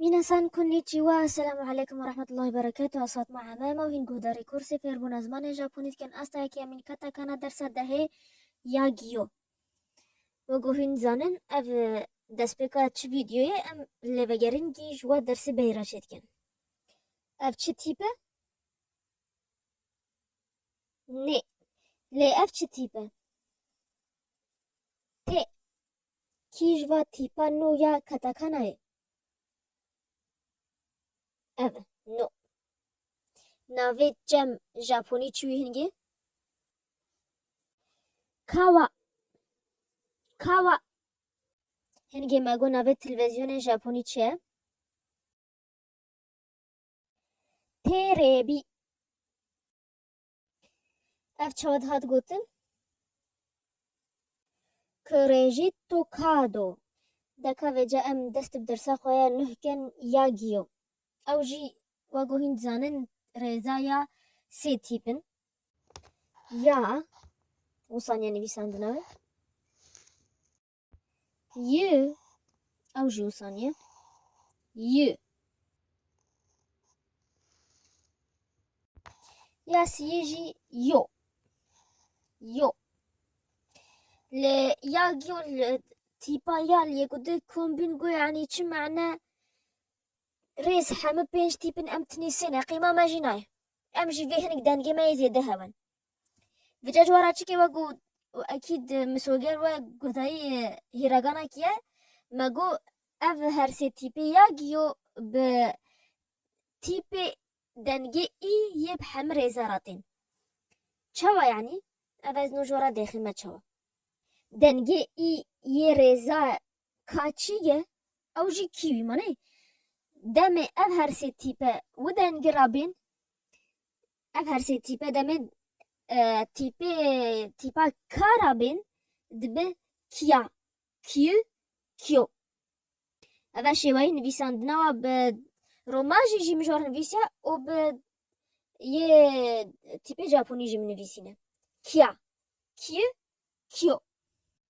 Minasan konnichiwa, Esselamu aleykum ve rahmetullahi ve berekatuh. Ez Fatma Emem û hîn guhdarê kursê fêrbûna zimanê Japonî dikin asta yekemîn keta kana dersa dehê ya Gyo. Wê ku hîn dizanin ev e, destpêka çi vîdyoyê em lêvegerîngî ji we dersê beyê re çêdikin. Ev çi tîp e? Nê. Lê ev çi tîp e? Tê. Kî ji va tîpa nû ya katakana ye? Ev e, no. Navê çem Japonî çi wî hingê? Kawa. Kawa. Hingê me got navê televîzyonê Japonî çi ye? Têrêbî. Ev çawa dihat gotin? Kurejî to kado. Deka vêca em dest bi dersa xwe ya nuh ken ya giyo. Ew jî wa ku hîn dizanin rêza ya sê tîp in. Ya û saniya nivîsandina wê. Y ew jî wisa niye. Y ya siyê jî yo. Yo. Lê ya giyo li tîpa ya li yek û di kombîn got yanî çi mane rêz hemû pênc tîpin em tinî sê ne qîma me jî nayê. Em jî vê hinek dengê me yê zêde hev in. Vica cwara çikê we got û ekîd misoger we guhdayî hîragana kî ye me got ev her sê tîpê ya giyo bi tîpê dengê î yê bi hemî rêze ra tên. Çawa yanî? Ev ez no ji we re dêxî me çawa. Dengê î yê rêza ka çî ye ew jî kî wî manê demê ev her sê tîpe wi dengî ra bên Ev her sê tîpe demê tîpê tîpa ka ra bên dibe kia, kiu, kio. Ev e şêweyê nivîsandina we bi romajî jî min ji we re nivîsiya û bi yê tîpê Japonî jî min nivîsîne. Kia, kiu, kio.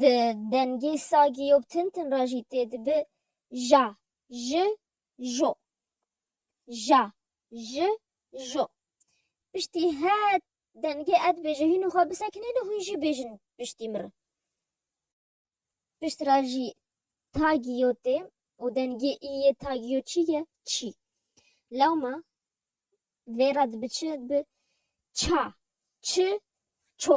Di dengê sagî yo tin tin re jî tê dibi ja, ji, jo. Ja, ji, jo. Piştî her dengê ez dibêjim hîn û xwe bisekinîn û hûn jî bêjin piştî min re. Pişt re jî tagî yo tê û dengê î yê tagî yo çi ye? Çî. Lewma vê re dibi çi? Dibi ça, çi, ço.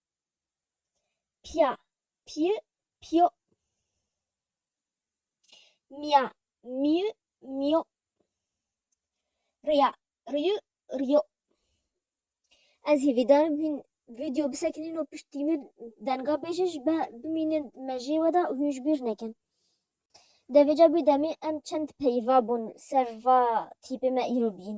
Pia, piu, pio. Mia, miu, mio. Ria, riu, rio. Ez hêvîdarim hîn vîdyo bisekinîn û piştî min denga bêjin ji be bimînin mejê we de û hûn ji bîr nekin. Devêca bî demê em çend peyva bûn ser va tîpê me îro bîn.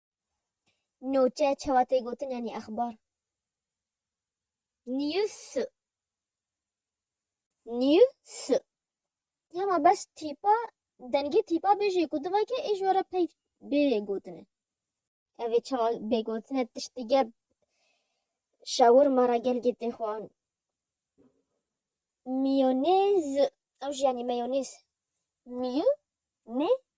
Nûçe çawa tê gotin yanî exbar. News News Hema bes tîpa dengê tîpa bêjê ku di veke ê ji we re peyv bê gotine. Ev ê çawa bê gotine tişt dige şawirma re gelgê tê xwan. Miyonêz Ew jî yanî meyonêz. Miyonêz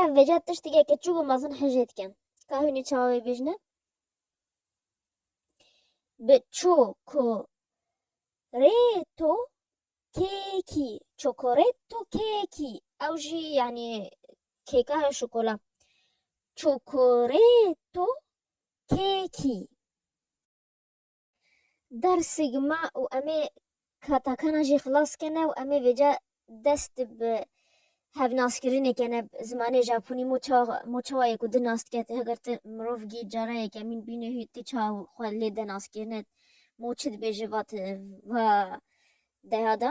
Ev vêca tiştekê ke çûk û mezin hijê dikin. Ka hûnê çawa wê bêjne? Bi çokoreto kekî. Çokoreto kekî. Ew jî yanî kêka ya şokola. Çokoreto kekî. Der sigma û emê katakana jî xilas kene û emê vêca dest bi hevnaskirinê kene bi zimanê Japonî mo ça mo çawa yê ku di nas dike ti heger ti mirov gî cara yekemîn bînê hû ti ça xwe lê de naskirine mo çi dibêje va ti va deha de